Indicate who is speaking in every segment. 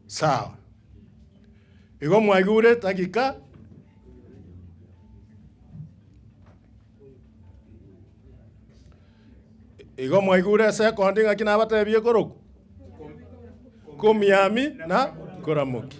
Speaker 1: Sawa. Igo mwaigure tagika igo mwaigure ase ekondi ng'aki nabatebie koroku komiami na koramoki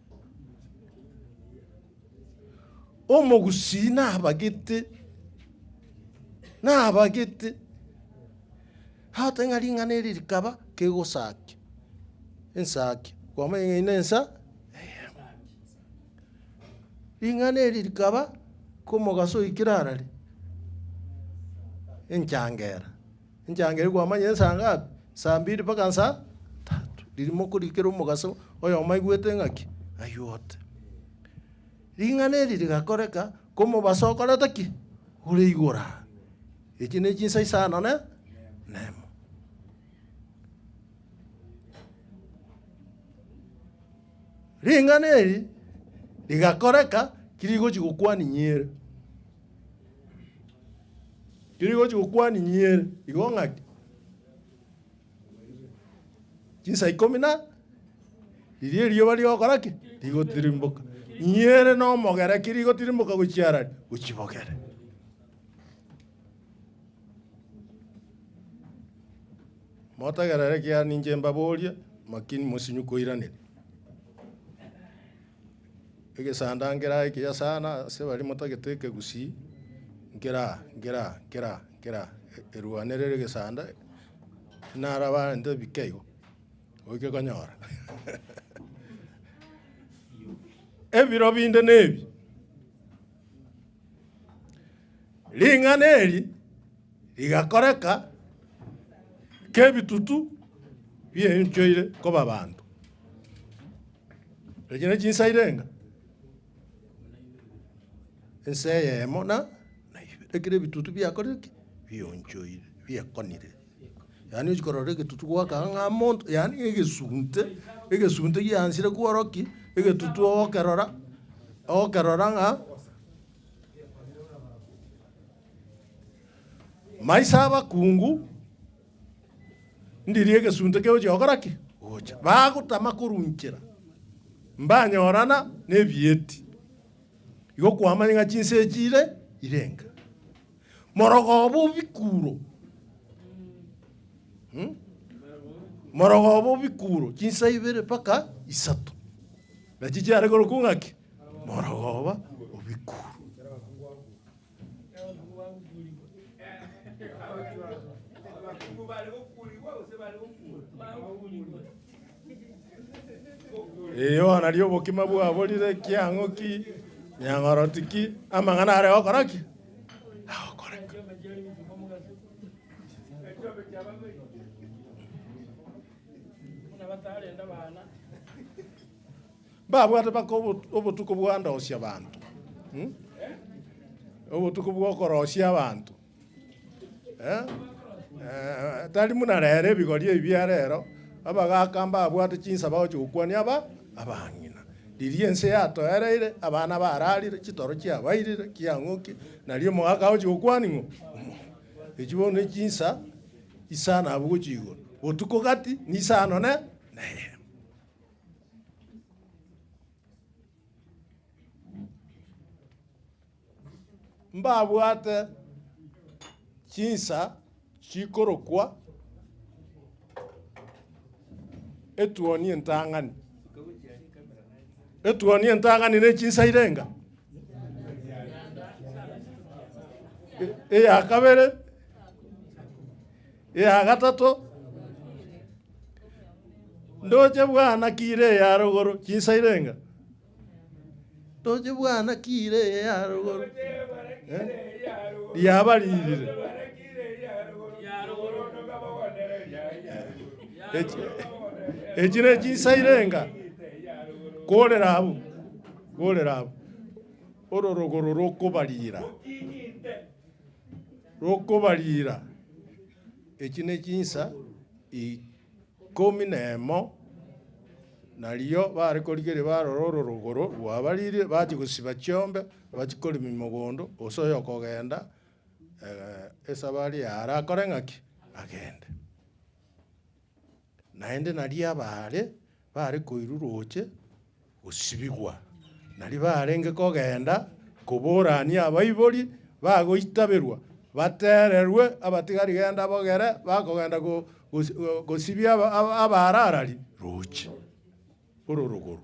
Speaker 1: Omogusii nabagete, nabagete, agote ng'a ring'ana eri rikaba kegosakia, ensakia, kwamanya ng'a eye ne ensa eyemo. Ring'ana eri rikaba komogaso oikire arare enchangera. Enchang'eri kwamanyire nsa ngapi? Nsa mbiri mpaka nsa tatu. Ririmoku rikere omogaso oyomo aigwete ng'aki? Aigwete. Ring'ana eri rigakoreka komobaso okoreta ki? Ore igoro aa. Echi ne chinsa isano ne nemo. Ring'ana eri rigakoreka ki rigochi gokwania inyere? Riria rigochi gokwaninyiere igo ng'aki? Chinsa ikomi na riria erioba rigokora ki? Rigotirimboka. Nyiere na omogera ki rigotirimboka gochia arari? Gochia bogere. Motegerere ekiagera ninche mbaborie, makini mosinye koiraneria. Egesanda nkeraa ekiya sana ase baria motagete ekegusii, nkeraa, nkeraa, nkeraa, nkeraa, erwanere ere egesanda, naro abanto ebike igo, oike konyora ebiro binde na ebi. Ring'ana eri rigakoreka kebitutu bienchoire koba abanto. Echi ne chinsa irenga? Ensa eyemo na naibere, ekero ebitutu biakorire ki? Bionchoire, biekonire. Yaani ochia korora egetutu goaka ang'e amo monto, yaani egesunte, egesunte giaanchire kworokia ki? Egetutu ogokerora, ogokerora ng'a maiso 'abakungu. Ndirie egesunte kegochia gokora ki? Gocha. Bagotama korwa inchera, mbanyorana nebieti. Igo kwamanye ng'a chinsa echi ire irenga. Morogoba obikuro. Hmm? Morogoba obikuro chinsa ibere mpaka isato. Nachi chiare korokwa ng'aki? Morogoba obikuro. Abakungu bare gokuurigwa gose bare gokuurwa? Eyo nario obokima bwaborire kiang'o ki nyang'oroti ki amang'ana are gokora ki? Agokoreka. Ekiombe kia bameri. Buna batarenda bana. Mbabwate mpaka obo- obotuko bw'andoosia abanto, eh, obotuko bw'okoroosia abanto, eh, eh, tari buna rero ebigori ebi bia rero, abagaaka mbabwate chinsa bagochia gokwania aba abang'ina. Riria ense yatoereire, abana bararire, chitoro chiabairire, kiang'oki, nari omogaka agochia gokwania ng'o, omonto. Echio bono ne chinsa isano abwo gochia igoro, botuko gati, na isano ne neyemo. mbabwate chinsa chikorokwa etuoni entang'ani. Etuoni entang'ani ne chinsa irenga. E- Eya kabere Eya gatato, Ndoche bwana ki ire eya rogoro, chinsairenga? Ndoche bwana ki ire eya rogoro, eh, riaba ririre? Echi, echi ne chinsairenga, korera abwo, korera abwo, oro rogoro rokobarira. rokobariira. Echi ne chinsa ikomi na emo, nario bare korigereria barore ororogoro rwabariire, bachia gosiba chiombe, bachia koremia mogondo, gose oyo okogenda esabari yaye arakore ng'aki? Agende. Naende nario abaare baare koirwa roche gosibigwa, nario barenge kogenda koborania abaibori bagoitaberwa, batererwe abatigari genda bogere bakogenda gosibia abaararari roche ororogoro.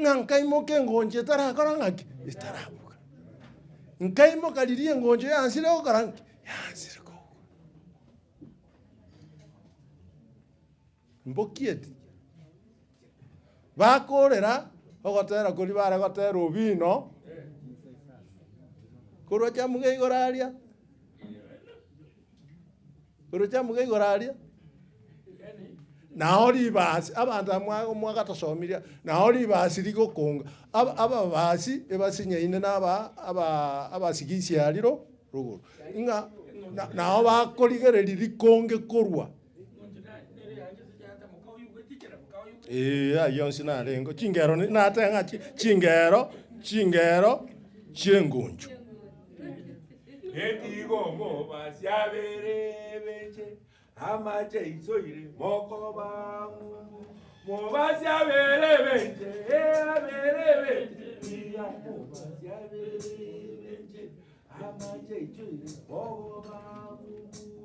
Speaker 1: ng'a nkaimoka engoncho etarakora ng'aki? Etarabuga. Nkaimoka riria engoncho yansire gokora ng'aki? Yansire kobuga. Mbokieti, bakorera ogotera koria bare gotera obino, korwa chamge igoro aria. Orochamoke igoro aria, nao ribaasi, abanto aba mwa- mwagatosomirie, nao ribaasi rigokonga, aba- ababaasi ebasinyaine na aba- aba- abasigisia aria ro- rogoro, ng'a na- nao bakorigereria rikonge korwa. Eeh ayio onsi narengeo, chingero ne- nateba ng'a chi- chingero chingero chi'engoncho.
Speaker 2: Getiga omobaasi abere ebeche, amache aisoire mokoba ng'umbu. Mobaasi abere ebeche, ee abere ebeche, tiga mobaasi abere ebeche, amache aisoire mokoba ng'umbu.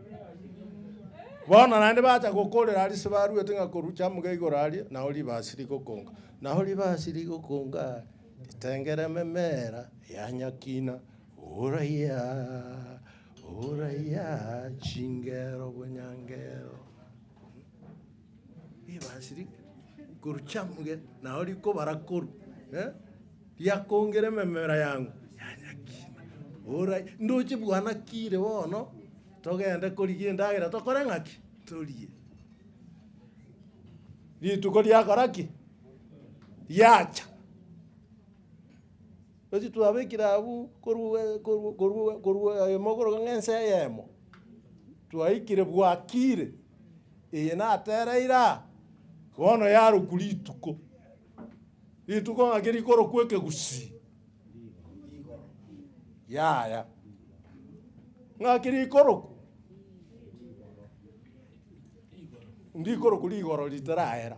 Speaker 1: Bono naende bacha gokorera aria ase baruete ng'a korwa chiamuga igoro aria, nao ribasi rigokonga. Nao ribasi rigokongaa, ritengereme mera ya nyakina, ooraiyaaaa, ooraiyaaaa, chingero bonyangero. Ribaasi rike rikoru chiamuge, nao rikobara koru, eh, riakongera ememera yang'u yanyakina. Ora, ndoche bwana kire bono, togende korigia endagera tokore ng'aki? Torie. Rituko riakora ki? Riacha. Gose twabekire abwo korwa eyemo korwa ng'ense eyemo, twaikire bwakire, eye natereire aa, bono yarokwa rituko, rituko ng'ake rikorokwa ekegusii, yaya. Ng'aki rikorokwa? Ndikorokwa rigoro ritarahera.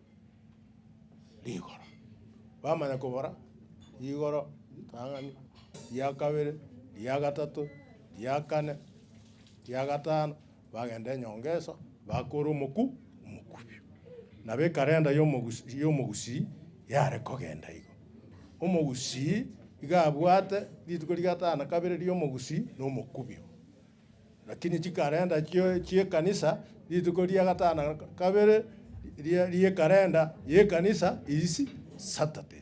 Speaker 1: rigoro. Bamanya kobora rigoro ritang'ani, ria kabere, ria gatato, ria kane, ria gatano, bagenda enyongesa, bakora omoku omokubi. Nabo ekarenda ya omogus ya omogusii yare kogenda igo. Omogusii iga abwate rituko ria gatano na kabere ria omogusii na omokubi. Lakini chikalenda chi'ekanisa rituko ria gatano na kabere ri'ekalenda y'ekanisa is Saturday.